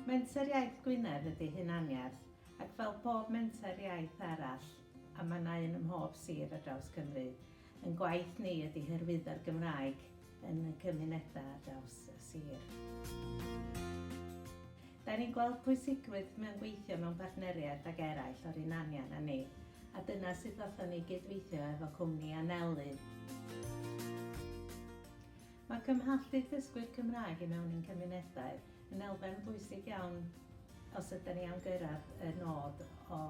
Menter Iaith Gwynedd ydy hunaniaeth, ac fel pob menter iaith arall, a mae yna un ym mhob sir ar draws Cymru, ein gwaith ni ydy hyrwyddo'r Gymraeg yn y cymunedau ar draws y sir. Da ni'n gweld pwysigrwydd mewn gweithio mewn partneriaeth ag eraill o'r un anian â ni, a dyna sut ddothon ni i gyd-weithio efo cwmni Anelu. Mae cymhlethu dysgwyr Cymraeg i mewn i'n cymunedau yn elfen bwysig iawn os ydyn ni am gyrraedd y nod o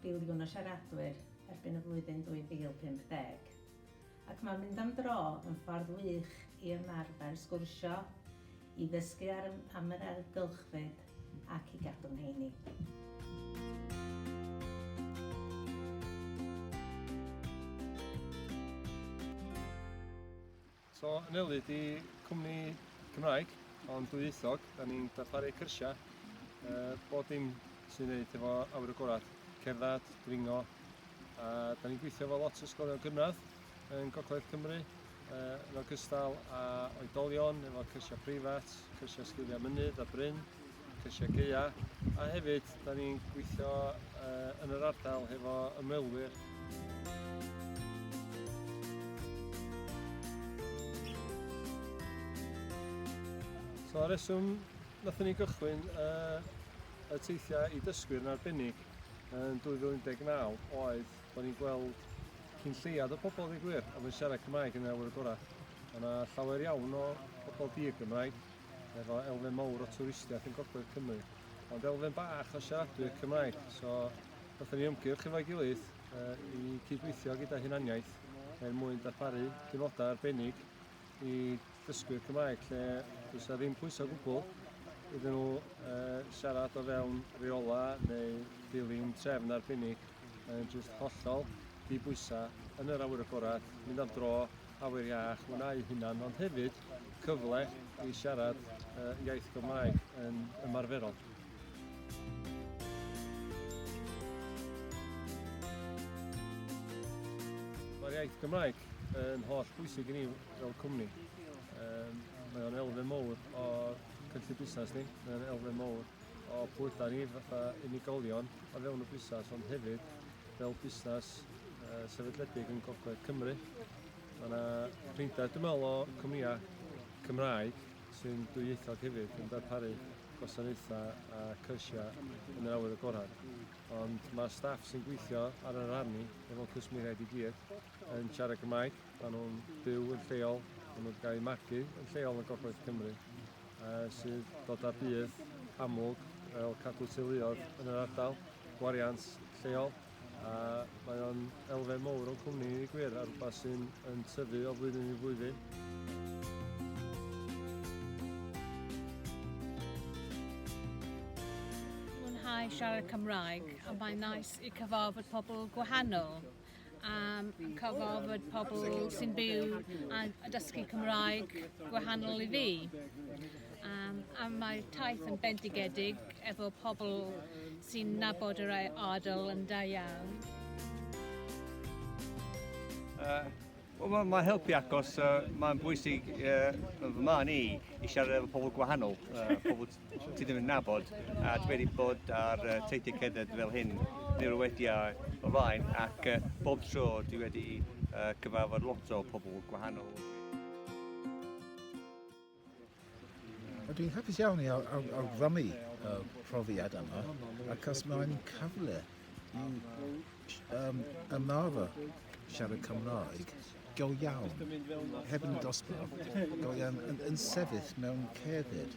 filiwn o siaradwyr erbyn y flwyddyn 2050. Ac mae mynd am dro yn ffordd wych i ymarfer sgwrsio, i ddysgu am yr ailgylchfyd ac i gadw'n heini. So, Anelu, di cwmni Cymraeg, ond dwyieithog, da ni'n darparu cyrsiau, uh, bod dim sy'n wneud efo awyr y gorau, cerdded, dringo, a da ni'n gweithio efo lot o ysgolion gynradd yn Gogledd Cymru, uh, yn ogystal â oedolion, efo cyrsiau preifat, cyrsiau sgiliau mynydd a bryn, Ceisiageia a hefyd da ni'n gweithio uh, yn yr ardal hefo ymwelwyr. So ar reswm nath ni gychwyn uh, y teithiau i dysgwyr yn arbennig yn 2019 oedd bod ni'n gweld cyn lleiad o pobl ddigwyr oedd yn siarad Cymraeg yn yr awyr gorau. Yna llawer iawn o pobl di y Gymraeg efo elfen mawr o twristiaeth yn Gogledd Cymru, ond elfen bach o siaradwyr Cymraeg. So, wnaethon ni ymgyrch efo'i gilydd uh, i cydweithio gyda hunaniaeth er mwyn darparu diwrnodau arbennig i ddysgwyr Cymraeg lle dwi'n sa ddim pwysau o gwbl iddyn nhw uh, siarad o fewn reola neu dilyn trefn arbennig yn just hollol dibwysa yn yr awyr agored, mynd am dro, awyr iach hwnna eu hunan, ond hefyd cyfle i siarad uh, iaith Gymraeg yn ymarferol. Mae'r iaith Gymraeg yn holl bwysig i ni fel cwmni. Um, mae o'n elfen mowr o cynllun busnes ni, mae o'n elfen mowr o pwyda ni fatha unigolion o fewn y busnes, ond hefyd Fel busnes sefydledig yn Gogledd Cymru, mae yna rhywbeth dwi'n meddwl o cwmnïau Cymraeg sy'n dwyieithog hefyd yn darparu gwasanaethau a cyrsiau yn yr awyr agored. Ond mae'r staff sy'n gweithio ar yr arni efo cwsmeriaid i gyd yn siarad Cymraeg, maen nhw'n byw yn lleol, maen nhw'n cael eu magu yn lleol yn Gogledd Cymru. sydd dod â budd amlwg fel cadw teuluoedd yn yr ardal, gwariant lleol, a mae o'n elfen mowr o'n cwmni i ddweud gwir, a rhywbeth sy'n yn tyfu o flwyddyn i flwyddyn. Mwynhau siarad Cymraeg, a mae'n nais i cyfarfod pobl gwahanol. am cofio bod pobl sy'n byw a dysgu Cymraeg gwahanol i fi. Um, a mae taith yn bendigedig efo pobl sy'n nabod yr ardal yn da iawn. Uh, well, mae ma helpu agos uh, mae'n bwysig uh, fy ma ni i siarad efo pobl gwahanol, uh, pobl Ti ddim yn nabod, a dwi wedi bod ar uh, teithiau cerdded fel hyn neu'r wediau o flaen, ac uh, bob tro dwi wedi uh, cyfarfod lot o pobl gwahanol. Dwi'n hapus iawn i awgrymu y profiad yma, ac os mae'n cyfle um, ymarfer siarad Cymraeg go iawn, heb yn dosbarth, go iawn, yn, yn sefyll mewn cefyd.